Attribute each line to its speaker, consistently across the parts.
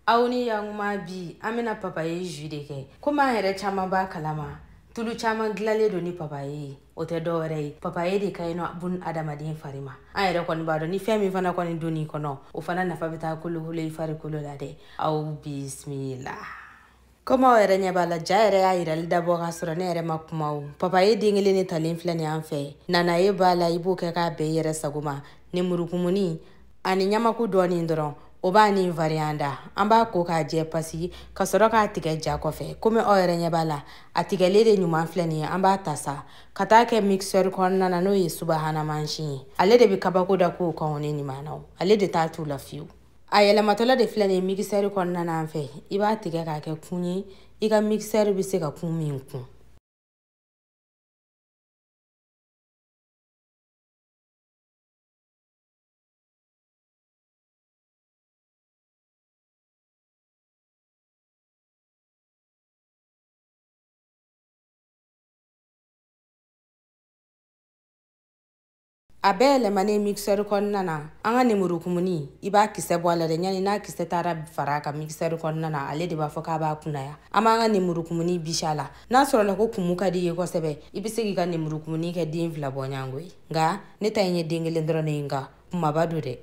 Speaker 1: aw ni yankuma bi an bɛna papaye jus de kɛ komi an yɛrɛ caman b'a kalama tulu caman dilanlen don ni papaye ye o tɛ dɔ wɛrɛ ye papaye de ka ɲi anw bunadamaden fari ma an yɛrɛ kɔni b'a dɔn ni fɛn min fana kɔni donna i kɔnɔ o fana nafa bɛ taa kolokolo i farikolo la dɛ aw bisimila komi aw yɛrɛ ɲɛ b'a la ja yɛrɛ y'a yirali dabɔ k'a sɔrɔ ne yɛrɛ ma kuma o papaye den kelen de talen filɛ nin an fɛ nanaye b'a la i b'o kɛ k'a bɛn i yɛrɛ sago ma nemurukumuni ani ɲamaku dɔɔnin dɔrɔn o b'a ni variyan da an b'a ko k'a jɛ pasi ka sɔrɔ k'a tigɛ ja kɔfɛ komi aw yɛrɛ ɲɛ b'a la a tigɛlen de ɲuman filɛ nin ye an b'a ta sa ka taa kɛ mixeur kɔnɔna na n'o ye subahana mansin ye ale de bɛ kabako da k'o kan o ne nin maanaw ale de t'a t'u la fiyewu a yɛlɛmatɔla de filɛ nin ye mikisɛri kɔnɔna na an fɛ i b'a tigɛ k'a kɛ kun ye i ka mikisɛri bɛ se ka kun min kun a bɛɛ yɛlɛmanen mixɛri kɔnɔna na an ka nemurukumuni i b'a kisɛ bɔ a la dɛ ɲani n'a kisɛ taara fara a kan mixɛri kɔnɔna na ale de b'a fɔ k'a b'a kunaya an b'an ka nemurukumuni bisi a la n'a sɔrɔla ko kumu ka di i ye kosɛbɛ i bɛ se k'i ka nemurukumuni kɛ den fila bɔɲɔgɔnko ye nka ne ta in ye den kelen dɔrɔn de ye nka kumaba don dɛ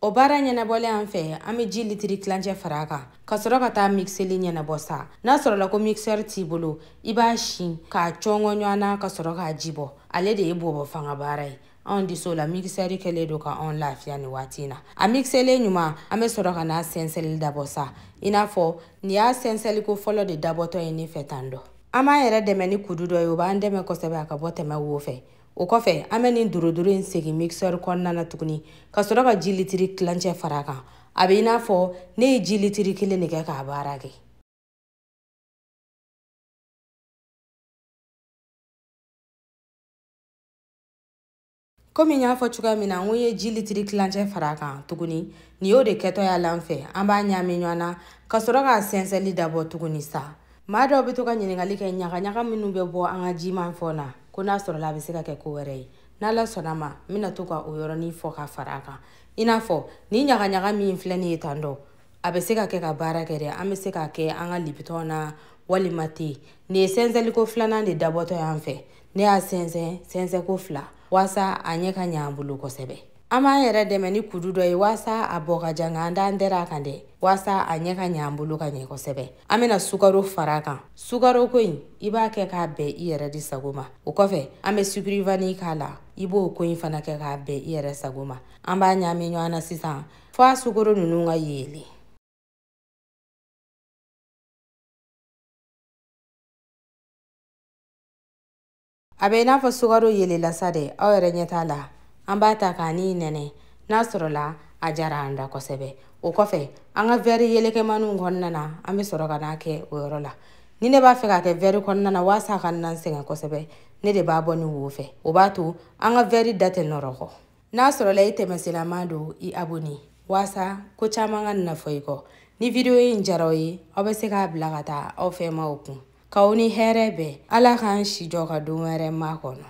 Speaker 1: o baara ɲɛnabɔlen an fɛ an bɛ ji litiri tilancɛ fara a kan ka sɔrɔ ka taa mikiseli ɲɛnabɔ sa n'a sɔrɔla ko mikisɛri t'i bolo i b'a sin k'a cɔngɔ ɲɔgɔn na ka sɔrɔ k'a ji bɔ ale de ye bɔbɔ fanga baara ye anw diso la mikisɛri kɛlen don ka anw lafiya nin waati in na a mikiselen ɲuman an bɛ sɔrɔ ka n'a sɛnsɛnli dabɔ sa i n'a fɔ nin y'a sɛnsɛnliko fɔlɔ de dabɔtɔ ye ne fɛ tan dɔ an b'an yɛrɛ dɛmɛ ni kudu dɔ ye o b'an dɛmɛ kosɛbɛ a ka bɔ tɛmɛ wo fɛ o kɔfɛ an bɛ nin dorodoro in segin mixeur kɔnɔna na tuguni ka sɔrɔ ka ji litiri tilancɛ fara a kan a bɛ i n'a fɔ ne ye ji litiri kelen de kɛ k'a baara kɛ komi n y'a fɔ cogoya min na n ko ye ji litiri tilancɛ fara a kan tuguni nin y'o de kɛtɔ y'a la an fɛ an b'a ɲaami ɲɔgɔn na ka sɔrɔ k'a sɛnsɛnli dabɔ tuguni sa maa dɔw bɛ to ka ɲininkali kɛ ɲagaɲaga minnu bɛ bɔ an ka jimafɛn na ko n'a sɔrɔla a bɛ se ka kɛ ko wɛrɛ ye n'ala sɔnna a ma n bɛna to ka o yɔrɔnin fɔ ka fara a kan i n'a fɔ nin ɲagaɲaga min filɛ nin ye tan dɔ a bɛ se ka kɛ ka baara kɛ dɛ an bɛ se k'a kɛ an ka libitɔn na walima te nin ye sɛnsɛnliko filanan de dabɔtɔ y'an fɛ ne y'a sɛnsɛn sɛnsɛnko fila waasa a ɲɛ ka ɲɛ an bolo kosɛbɛ an b'an yɛrɛ dɛmɛ ni kudu dɔ ye waasa a bɔ ka diya nka an t'an dɛrɛn a kan dɛ waasa a ɲɛ ka ɲɛ an bolo ka ɲɛ kosɛbɛ an bɛna sukaro fara a kan sukaro ko in i b'a kɛ k'a bɛn i yɛrɛ di sago ma o kɔfɛ an bɛ sukirivani k'a la i b'o ko in fana kɛ k'a bɛn i yɛrɛ sago ma an b'a ɲaami ɲɔgɔn na sisan fo a sukaro ninnu ka yeelen a bɛ i n'a fɔ sukaro yeelenna sa dɛ aw yɛrɛ ɲɛ t'a la an b'a ta ka nin nɛnɛ n'a sɔrɔla a diyara an da kosɛbɛ o kɔfɛ an ka vɛri yelekɛmaniw kɔnɔna na an bɛ sɔrɔ ka n'a kɛ o yɔrɔ la ni ne b'a fɛ k'a kɛ vɛri kɔnɔna na waasa a kana n sɛgɛn kosɛbɛ ne de b'a bɔ nin wo fɛ o b'a to an ka vɛri da tɛ nɔrɔkɔ n'a sɔrɔla i tɛmɛsenlama don i aboni waasa ko caman kana fɔ i kɔ ni vidiyo in diyara aw ye aw bɛ se k'a bila ka taa aw fɛ maaw kun k'aw ni hɛrɛ bɛn ala k'an si jɔ ka don wɛrɛ makɔnɔ